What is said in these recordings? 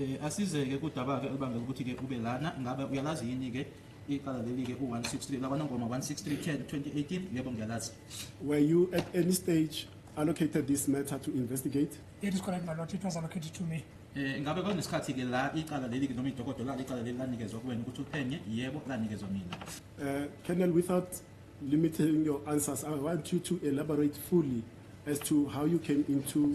Eh, asizeke kudabake elibangela ukuthi-ke ube lana ngabe uyalazi yini-ke iqala leli-ke u-163 lakwanongoma 16310 2018 yebo ngiyalazi were you at any stage allocated this matter to investigate it is correct my lord it was allocated to me Eh ngabe kwanesikhathi-ke la iqala leli-ke noma idokodo lalo iqala leli lanikezwa kuwena ukuthi uphenye yebo lanikezwa mina uh, colonel without limiting your answers i want you to elaborate fully as to how you came into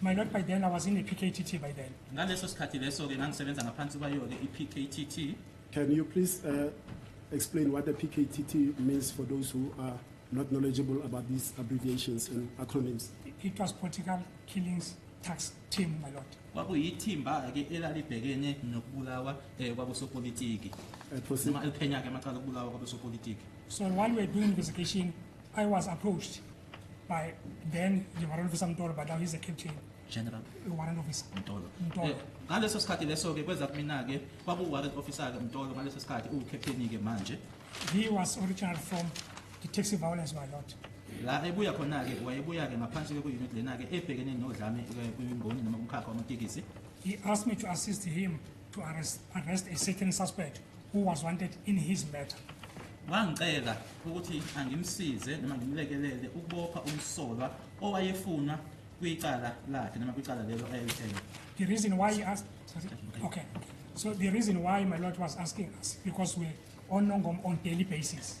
My lord, by then I was in a PKTT by then. ngaleso sikhathi leso-ke ngangisebenza ngaphansi kwayo-ke i-pktt Can you please uh, explain what the PKTT means for those who are not knowledgeable about these abbreviations and acronyms? It was political killings tax team, my lord. kwakuyithimba-ke elalibhekene nokubulawa um kwabosopolitiki Uh, proceed. noma eliphenya-ke amacala okubulawa kwabosopolitiki So while we were doing investigation, I was approached by then the warrant officer Mtolo but now he's a captain general warrant officer Mtolo Mtolo eh, ngaleso sikhathi leso ke kweza kumina ke kwaku warrant officer ke Mtolo ngaleso sikhathi u captain ke manje he was original from the taxi violence by lot la ebuya khona ke wayebuya ke ngaphansi ke ku unit lena ke ebhekene nodlame eh, kwimboni noma umkhakha wamatekisi he asked me to assist him to arrest, arrest a certain suspect who was wanted in his matter. Wangicela ukuthi angimsize noma ngimlekelele ukubopha umsolwa owayefunwa kwicala lakhe noma kwicala lelo ayelithele. The reason why he asked okay. So the reason why my lord was asking us because we're on Nongom on daily basis.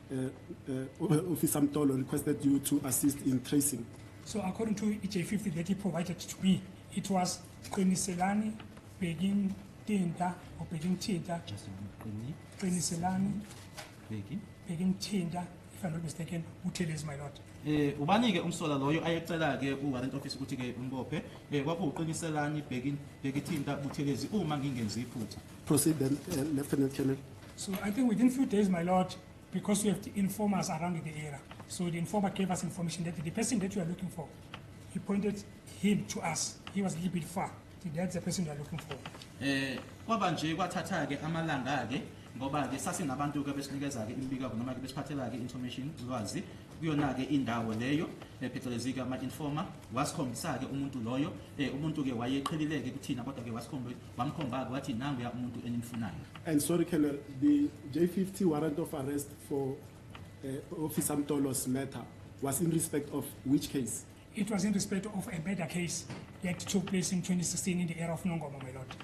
uh, uh, Officer Mtolo requested you to assist in tracing. So according to EJ50 that he provided to me, it was Qiniselani Begin Tinta or Begin Tinta. Qiniselani Begin Tinta, if I'm not mistaken, Uteles, my lord. eh ubani ke umsola loyo ayecela ke uwarrant office ukuthi ke umbophe eh kwakuqiniselani bheki bhekithinta buthelezi uma ngingenzi iphutha proceed then uh, lieutenant colonel So I think within few days, my lord, because we have to inform us around the area. So the informer gave us information that the person that you are looking for, he pointed him to us. He was a little bit far. That's the person you are looking for. Eh, kwaba nje kwathatha ke amalanga ke ngoba ke sasinabantu ke besinikeza ke imibikako noma ke besiphathela ke information ulwazi kuyona ke indawo leyo phecelezi ke ama informer wasikhombisa ke umuntu loyo eh umuntu ke wayeqhelile ke kuthina kodwa ke wasikhombisa bamkhomba-ke wathi nanguya umuntu enimfunayo and sorry colonel the j50 warrant of arrest for uh, officer mtolos matter was in respect of which case it was in respect of a murder case that took place in 2016 in the area of nongoma my lord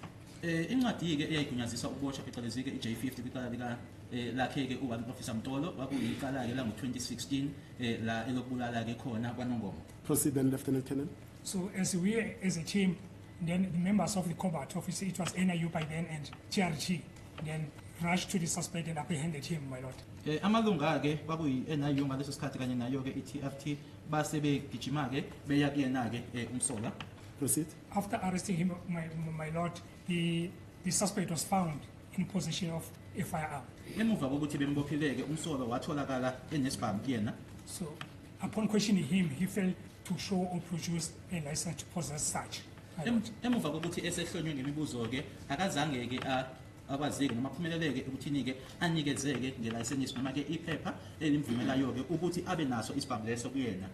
eh incwadi-ke eyayigunyazisa ukuboshwa phecelezi-ke i-j50 kwicala lika eh, lakhe-ke u-one officer mtolo kwakuyicala-ke lango-2016 um eh, la elokubulala-ke khona kwanongoma proceed then lieutenant canon so as we as a team Then the members of the Cobalt office, it was NIU by then and TRG, then rushed to the suspect and apprehended him, my lord. Eh, amalunga-ke kwakuyi-NIU ngaleso sikhathi kanye nayo-ke i-TFT base begijima-ke beya kuyena-ke eh, umsola. Proceed. After arresting him, my, my lord, the, the suspect was found in possession of a firearm. Emuva kokuthi bembophileke umsolwa watholakala enesibhamu kuyena. So Upon questioning him, he failed to show or produce a license to possess such. Em- emuva kokuthi esehlonywe ngemibuzo-ke akazange-ke a- akwazeke noma aphumeleleke ekuthini-ke anikezeke ngelayisenisi noma-ke iphepha elimvumelayo-ke ukuthi abe naso isibhamu leso kuyena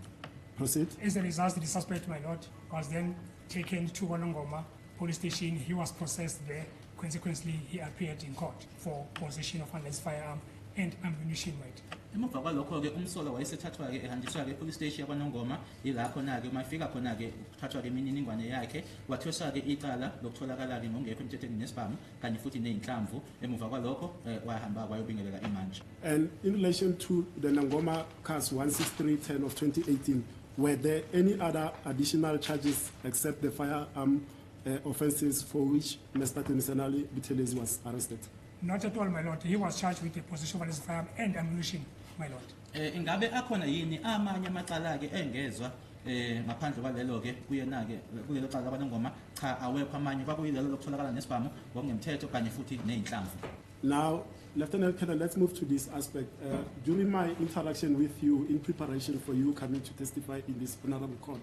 Proceed. As a result, the suspect, my lord, was then taken to Kolongoma police station he was processed there consequently he appeared in court for possession of unless firearm and ammunition weight emuva kwalokho-ke umsolwa wayesethathwa-ke ehanjiswa-ke epolice station yakwanongoma yila khona-ke uma efika khona-ke kuthathwa-ke imininingwane yakhe wathweswa-ke icala lokutholakala-ke ngongekho emthethweni nesibhamu kanye futhi nezinhlamvu emuva kwalokho eh, wayahamba wayobingelela imantshi and in relation to the Nangoma case 16310 of 2018 were there any other additional charges except the firearm uh, offences for which Mr. Temisanali Buthelezi was arrested? Not at all, my lord. He was charged with the possession of his firearm and ammunition, my lord. Eh, ingabe akhona yini amanye amacala-ke engezwa eh ngaphandle kwalelo ke kuyena ke kulelo cala labanongoma cha awekho amanye kwakuyilelo lokutholakala nesibhamu ngokungemthetho kanye futhi nezinhlamvu Now, Lieutenant Colonel, let's move to this aspect. Uh, during my interaction with you in preparation for you coming to testify in this honorable court,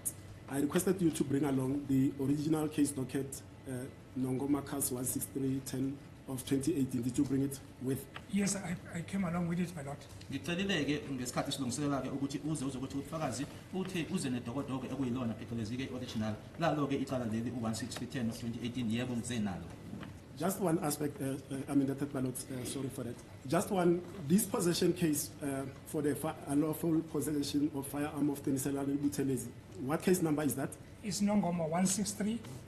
I requested you to bring along the original case docket uh, Nongo Marcus 16310 of 2018 did you bring it with yes i, I came along with it my lord ngicelile ke ngesikhathi silungiselela ke ukuthi uze uzokuthi ufakazi uthe uze nedokodoke ekuyilona phecelezi ke original lalo ke icala leli u16310 of 2018 yebo ngize nalo Just one aspect, uh, uh, I mean, that ballot, uh, sorry for that. Just one, this possession case uh, for the unlawful possession of firearm of Teniselani Butelezi, what case number is that? It's Nongoma 163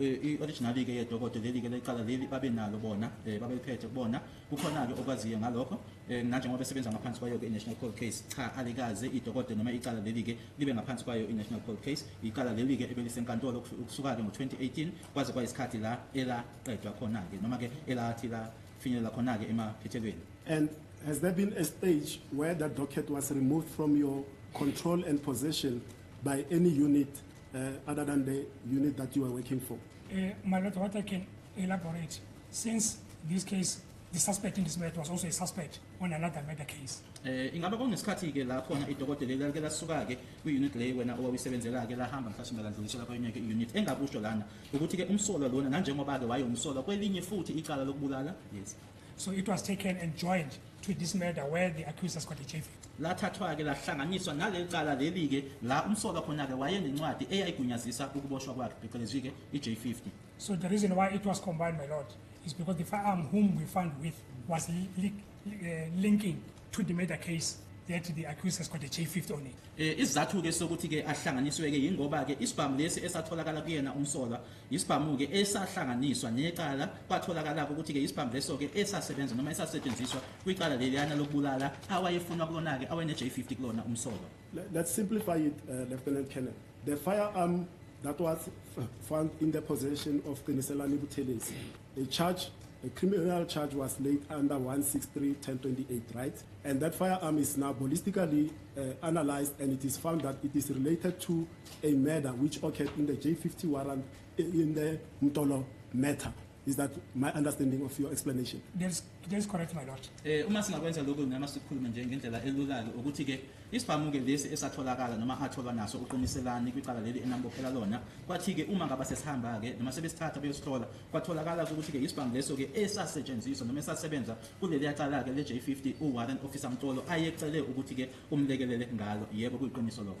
Eh, i-originali-ke yedokodo leli-ke lelicala leli babenalo bona um babeliphethe kubona kukhona-ke okwaziyo ngalokho um nanjengoba besebenza ngaphansi kwayo-ke i-national cold case cha alikaze idokodo noma icala leli-ke libe ngaphansi kwayo i-national cold case icala leli-ke ebelisenkantolo ukusuka-ke ngo-2018 kwaze kwayisikhathi la elaqedwa khona-ke noma-ke elathi lafinyelela khona-ke emaphethelweni and has there been a stage where that docket was removed from your control and possession by any unit uh, other than the unit that you are working for? Uh, my lord, what I can elaborate, since this case, the suspect in this matter was also a suspect on another murder case. Eh ingaba kunesikhathi ke la khona idokotela elike lasuka ke kwi unit le wena owawusebenzela ke lahamba mhlawumbe ladlulisela kwenye ke unit engakusho lana ukuthi ke umsolwa lona nanjengoba ke waye umsolwa kwelinye futhi icala lokubulala yes So it was taken and joined to this murder where the accused has got a JV. lathathwa-ke lahlanganiswa naleli cala leli-ke la umsolwa khona-ke wayenencwadi eyayigunyazisa ukuboshwa kwakhe phecelezi-ke i-j50 So the reason why it was combined, my lord, is because the firearm whom we found with was li- li- uh, linking to the murder case that the accused has got a J50 on it. um isizathu-ke sokuthi-ke ahlanganiswe-ke yingoba-ke isibhamu lesi esatholakala kuyena umsolwa Yisibhamu-ke esahlanganiswa necala kwatholakala-ke ukuthi-ke yisibhamu leso-ke esasebenza noma esasetshenziswa kwicala leliyana lokubulala awayefunwa kulona-ke awene-J50 kulona umsolwa. Let's simplify it, uh, Lieutenant Colonel. The firearm that was found in the possession of Qiniselani Buthelezi. A charge, a criminal charge was laid under 163-1028, right? And that firearm is now ballistically uh, analyzed and it is found that it is related to A murder which occurred in the J50 warrant eh, in the Mtolo matter. Is that my understanding of your explanation? That is, that is correct, my lord. Eh uma singakwenza lokho ngama sikhulume nje ngendlela elulayo ukuthi ke isibhamuke lesi esatholakala noma atholwa naso uqiniselani kwicala leli enambophela lona kwathi ke uma ngaba sesihamba ke noma sebesithatha beyosihlola kwatholakala ukuthi ke isibhamu leso ke esasetshenziswa noma esasebenza kuleli yacala ke le J50 u warrant officer Mtolo ayecele ukuthi ke umlekelele ngalo yebo kuyiqiniso lokho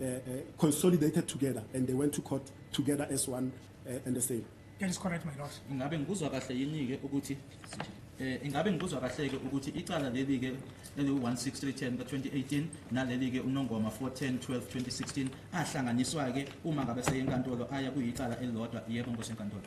uh, uh, consolidated together and they went to court together as one uh, and the same. That is correct, my lord. Ingabe ngikuzwa kahle yini-ke ukuthi eh ingabe ngikuzwa kahle-ke ukuthi icala leli-ke eliwu-16310 ka-2018 naleli-ke unongoma 410 12 2016 ahlanganiswa-ke uma ngabe seyenkantolo aya kuyicala elilodwa yebo nkosi enkantolo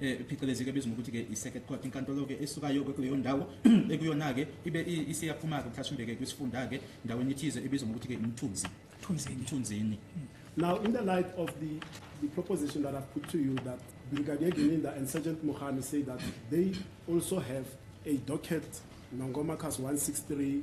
eh, phecelezi ke ebizwa ngokuthi-ke i-circuit court inkantolo-ke esukayo kuleyo ndawo ekuyona-ke ibe isiyaphuma-ke mhlawumbe-ke kwisifunda-ke ndaweni ethize ebizwa ngokuthi-ke imthunzi mthunzini Now, in the light of the, the proposition that I've put to you that Brigadier Gininda and Sergeant Mohani say that they also have a docket, Nongoma Cast 163,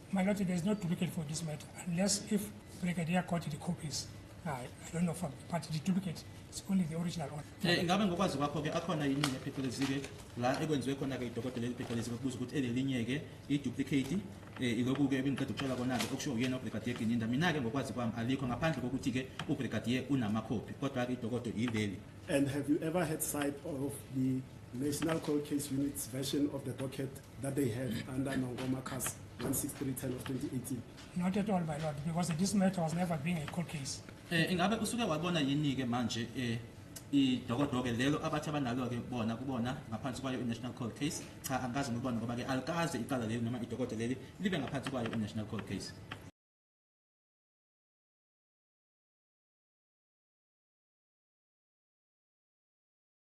My lord, there's no duplicate for this matter unless if Brigadier got the copies. I, I don't know from, but the duplicate is only the original one. Eh ingabe ngokwazi kwakho ke akhona yini nephecelezi ke la ekwenziwe khona ke idokotela eliphecelezi kubuza ukuthi elelinye ke iduplicate eh iloku ke ebingiqeda ukutshela kona ke okusho uyena uBrigadier Gininda mina ke ngokwazi kwami alikho ngaphandle kokuthi ke uBrigadier unama copy kodwa ke idokotela yileli And have you ever had sight of the National Cold Case Unit's version of the docket that they have under Nongoma Cast 16310 of 2018? Not at all, my lord, because this matter was never being a court case. Eh ingabe usuke wabona yini ke manje eh idokodoke lelo abathi abanalo ke bona kubona ngaphansi kwayo i-national cold case cha angikaze ngibone ngoba ke alikaze icala leli noma idokodo leli libe ngaphansi kwayo i-national cold case